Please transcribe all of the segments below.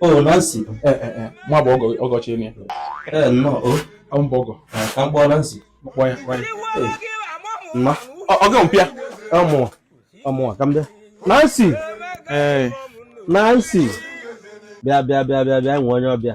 o oh, Nancy eh, eh, eh. mụwa bụ ọgọchi enyi ya nnọọ o ọ m bụ ọgọ ka m kpọọ Nancy kpọọ ya kpọọ ya mma ọgọ mpịa ọmụwa ọmụwa ka m bịa Nancy Nancy bịa bịa bịa bịa bịa nwee onye ọbịa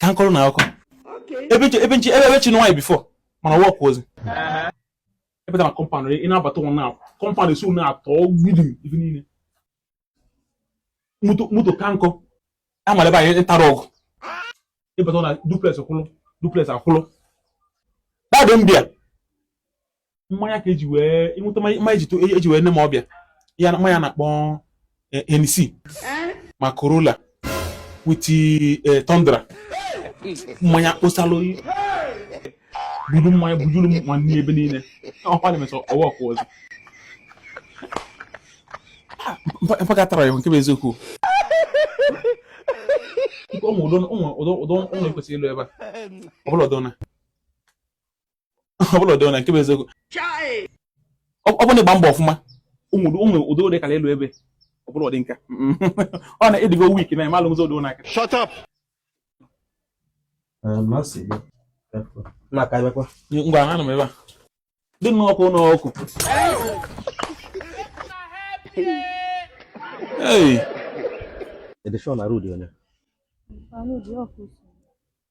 ka m kọọrọ ụnụ akụkọ ebe nche ebe nche ebe ebe chinụ nwaanyị before mana work ozi ebe na compound ị na-abata ụnọ na compound isi ụnọ atọ mgbidi ife niile moto moto ka nkọ amara ebe anyị ntara ọgụ ịbata na duplex kwụlụ duplex akwụlụ dadị mbịa mmanya ka eji wee ị nweta mmanya eji wee nee m ọbịa ya mmanya na-akpọ Hennessy ma Corolla with eh, Tundra mmanya kposalụ buru mmanya bujuru m nwanne ebe niile ọkwa na emesọ ọwa ọkwa ọzọ mpaka tara ya nke bụ eziokwu ụmụ ụdọ ụmụ ụdọ ụdọ ụmụ ekwesịrị ịlụ ebe a ọ bụla ụdọ na ọ bụla ụdị onye nke bụ eziokwu ọ bụrụ na ị gba mbọ ọfụma ụmụ ụmụ ụdị ụdị kara elu ebe ọ bụrụ ụdị nka ọ na ị dịgo weak na ịmalụ ụzọ ụdị ụnaka shut up ngwa anọ m ebe a dị nnọọ ọkụ ụlọ ọkụ Hey! Edishon Arudi onye? Arudi ọkụ.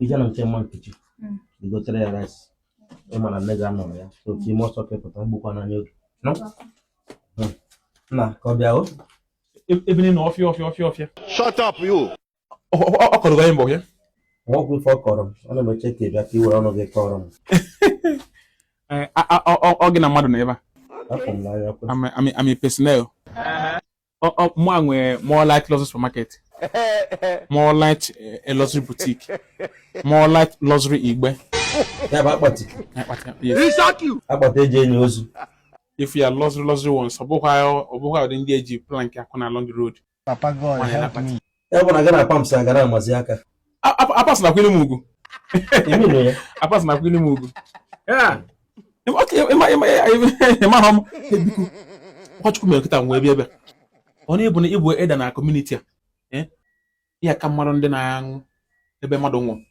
i je na nke mama Nkechi Mm. i gotere ya rice ị ma na nne gị anọrọ ya so ka i me ọsọ ka ị pụta egbukwana ya oge nọ Mm. nna ka ọ bịa o ebe niile ọfịa ọfịa ọfịa ọfịa Shut up, you. ọ kọrọ gị anyị mbọ ya nwa ọgwụ ife ọ kọrọ m ana m eche ka ị bịa ka i were ọnụ gị kọrọ m ọ gị na mmadụ nọ ebe a afụ m n'anya kwe army army personnel mụwa nwee more light luxury supermarket more light eh, luxury boutique more light luxury igbe ya bụ akpati akpati eji eni ozu if you are luxury luxury ones ọ bụkwa ụdị ndị eji plank akụ na along the road papa god help me ya bụ na gị na Apams ga-amazi aka Apams na-akwanyelụ m ugwu Apams na-akwanyelụ m ugwu ị mahọ m biko ọ Chukwu mere kịta m wee bịa ebe a ọ na ị bụ na ị bụ elder na community a eh? ya ka mmadụ ndị na-anwụ ebe mmadụ nwụrụ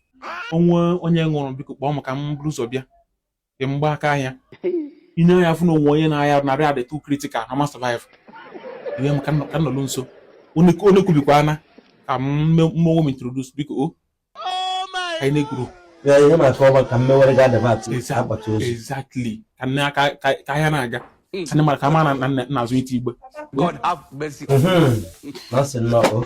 o nwee onye nwụrụ biko kpọọ m ka m buru ụzọ bịa dị mgba aka ahịa ine ya fụ na o nwe onye na-arịa ọrịa dị too critical na ma survive ihe m ka nọ- ka nọlụ nso onye onye kwubikwa na ka m me- mụ onwe m introduce biko o anyị na-ekwuru Ya ihe maka ọba ka mmewere ga adabat Exact- akpati ozu. exactly ka nne aka ka ka ahịa na-aga ka nne mara ka ma na na- na-azụ ite igbe God have mercy. Mhm. Na ọ sị nnọọ o.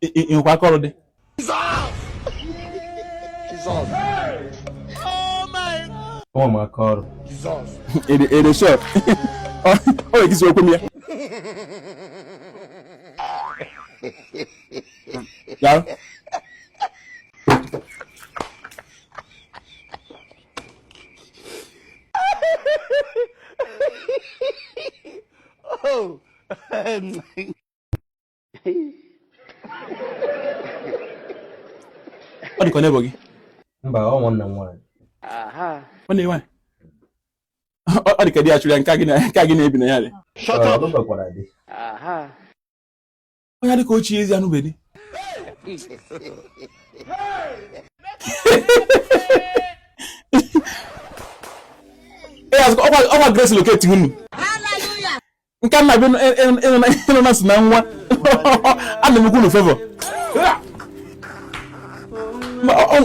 ị nwekwa aka ọrụ dị ụmụ m aka ọrụ ede shọt ọ na-egizi okwu m ya Daalụ. ọ dịka ọ na-ebo gị mba ọ nwanne m nwaanyị ọ na-enwe ọ dịka di ya chụrụ ya nke a gị na- nke a gị na-ebi na ya dị Shut up. Ọ lụbekwara di. onye dịka ochie ezi anụbe di ọkwa Grace locate unu nke nna bi ịnụ na si na nwa ana m ekwu unu favor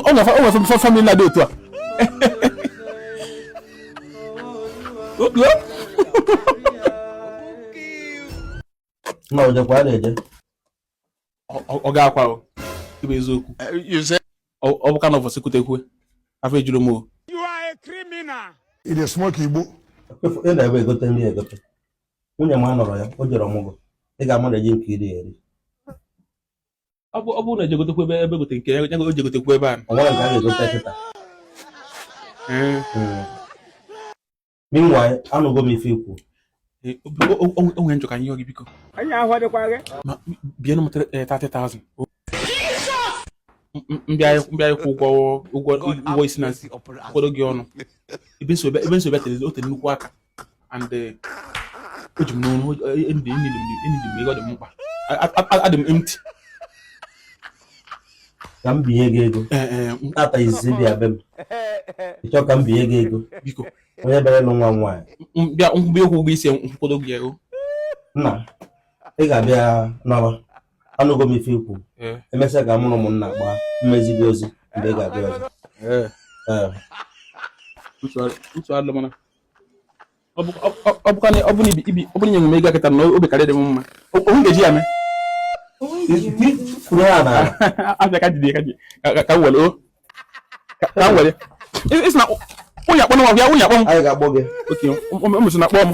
o nwefe family na-adị otu a na o jekwa a na-eje ọ ga-akwa ịbụ eziokwu ọ bụkwa na ọ fọsị kutekwuo afọ ejurọ m o ị na-esmoke igbo ị nọ ebe egote nri egote nwunye m anọrọ ya o jere ọmụgwọ ị ga-amanage nke i ri eri ọ bụrụ na e je gotekwu ebe ebe gote nke ya o je gotekwu ebe a o nwerọ nke a ga-egote kịta meanwhile anụgo m ife i kwu o nwe ife m chọ ka m yọọ gị biko anyị ahụ adịkwa gị ma binye nụ mụ 30,000 m bịa ịkwụ ụgwọ ụgwọ ụgwọ isi m kwụkọdo gị ọnụ ebe m si bịa tere o tere nnukwu aka and eh, o ji m n'ọnụ eneed m ego dị m mkpa adị m empty ka m binye gị ego Ee, ee, m- tata izizi ị bịa be m ị chọọ ka m binye gị ego biko onye bịara ịlụ nwa m nwaanyị m bịa ịkwụ ụgwọ isi m kwụkọdo gị ego nna ị ga-abịa naba anụgo m ife i kwu Ee. emesịa ka mụ na ụmụnna gbaa m ezie gị ozi mgbe ị ga-abịa ọzọ Ee, Ee. ntụ alụ mana ọ bụrụ nye m ego kịta na obi karịrị m mma o nwe ga-eji ya mee abịa ka jide ka m were ka m were ị sị na onye akpọ nwa ya onye akpọ m okay o mesịa na-akpọ m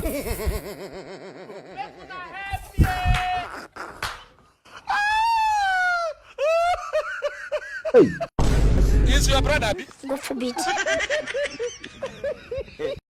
Is your brother? God forbid.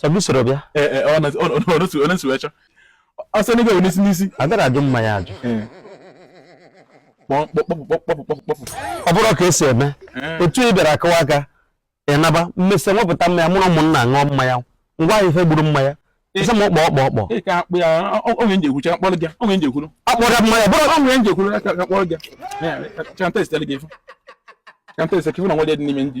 sọbisoro bịa ọnụsụwecha ọsọ n'ebe wee n'isi n'isi a gara ajụ mmanya ajụ ọ bụrụ ka e si eme otu ị bịara akụwa aka ị naba m mesịa wepụta mmanya mụ na ụmụnna ṅụọ mmanya ngwa ahụ ife gburu mmanya ịsa m ọkpọ ọkpọ ọkpọ onye nje ekwucha akpọrọ gị onye nje ekwuru akpọrọ mmanya bụrụ onye nje ekwuru akpọrọ gị chantesitele gị ife chantesitele gị ife na nwa dị n'ime ndị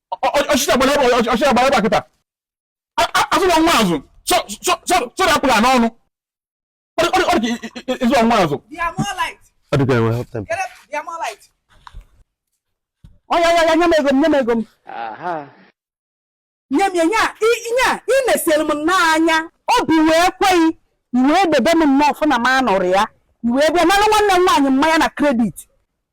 ọchịchị agbara ọchịchị agbara ịgba kịta asụrụ nwa azụ sọrọ apụla n'ọnụ ọ dị ka ịzụ nwa azụ ọ dị ka enwe hapụta m oya ya ya nye m ego m nye m ego m nye m ya nye a ị na-esere m n'anya obi wee kweghị i wee debe m nnọọ fụ na m anụrụ ya i wee bịa nara nwanne m nwaanyị mmanya na credit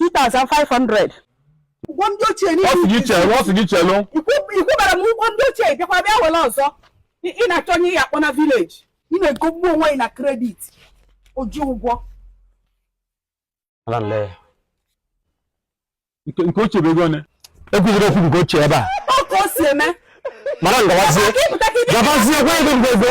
2500 ụgwọ ndị ochie niile ọ sị gị chelụ ọ sị gị chelụ ị kwụbara m ụgwọ ndị ochie bịakwa bịa were ọzọ ị na-achọ onye ị ya-akpọ na village ị na-egogbu onwe gị na credit oji ụgwọ nke ochie bụ ego one e kwuziri okwu nke ochie ebe a ọ ka o si eme madam gawazie gabazie gwa ego ngwego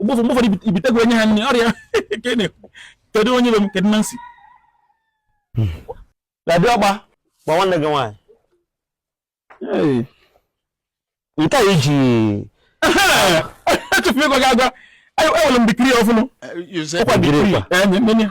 mgbe ụfọdụ mgbe ụfọdụ ibi- ibite gị onye ha nri ọrịa ka ị na-ekwu kedu onye be m kedu Nancy Daddy ọgba gwa nwanne gị nwaanyị nke a i ji echefu ịgwa gị agwa enwere m dikiri ọfụnụ ọ kwa dikiri enye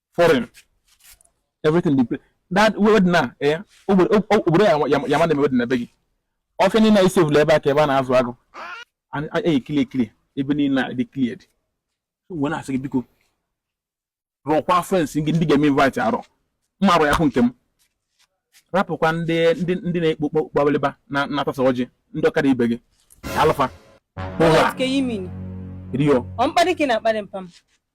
foreign everything dey that wedding na eh obodo ya-ama na-eme na be gị ọfịa niile anyị sevụla ebe a ka ebe a na-azụ agụ anyị ekili ekili ebe niile adị cleared wee na-asị gị biko rọkwa friends gị ndị ị ga-eme invite arọ mma arụ ya hụ nke m rapụkwa ndị ndị ndị na-ekpo kpọkpọbalịba na-atasa ọjị ndị ọkada ibe gị alụfa ụgha rio ọ mkparị ka ị na-akparị mpa m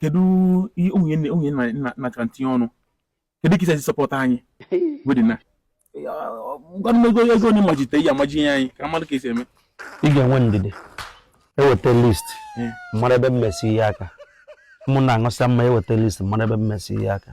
kedu onye na-achọ ntinye ọnụ kedu ka i si support anyị wedding a ngwanụ ego ego onye majite ya amaji ihe anyị ka mmadụ ka e si eme ị ga-enwe ndidi e weta list m mara ebe m esi hie aka ụmụnna aṅụsịa mmanya e weta list m mara ebe m esi hie aka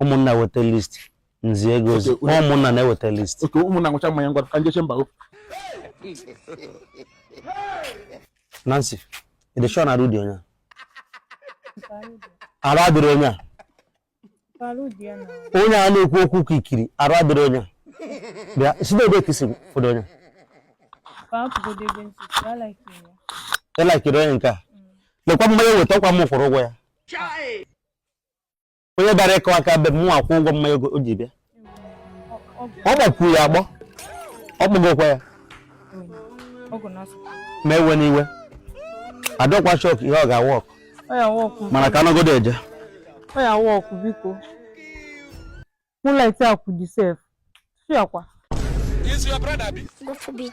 ụmụnna weta list nzi ego ozi Okay, onye- ụmụnna na-eweta list oke ụmụnna nwụcha mmanya ngwa ka njeche mba o Nancy ị dị sure na arụ dị onye a? arụ adịrị onye a Palu dị ya na onye a na-ekwu okwu ka i kiri arụ adịrị onye a. bịa si na ebe ka isi fọdụ onye paapụgodo ebe nsị si ya like ya. ị na-ekiri onye nke a lekwa mmanya weta ọkwa m kwụrụ ụgwọ ya onye bịara ịkụ aka be m nwa kwụ ụgwọ mmanya ogo- o ji bịa ọ gbakwuru ya agbọ ọ kpọgokwa ya ọgụ na-asụ ma ewena iwe adọkwa shock ihe ọ ga-awork ọ ya awork mana ka a nọgodo eje ọ ya awork biko Moonlight akwụ dị sef fiakwa Is your brother be? God forbid.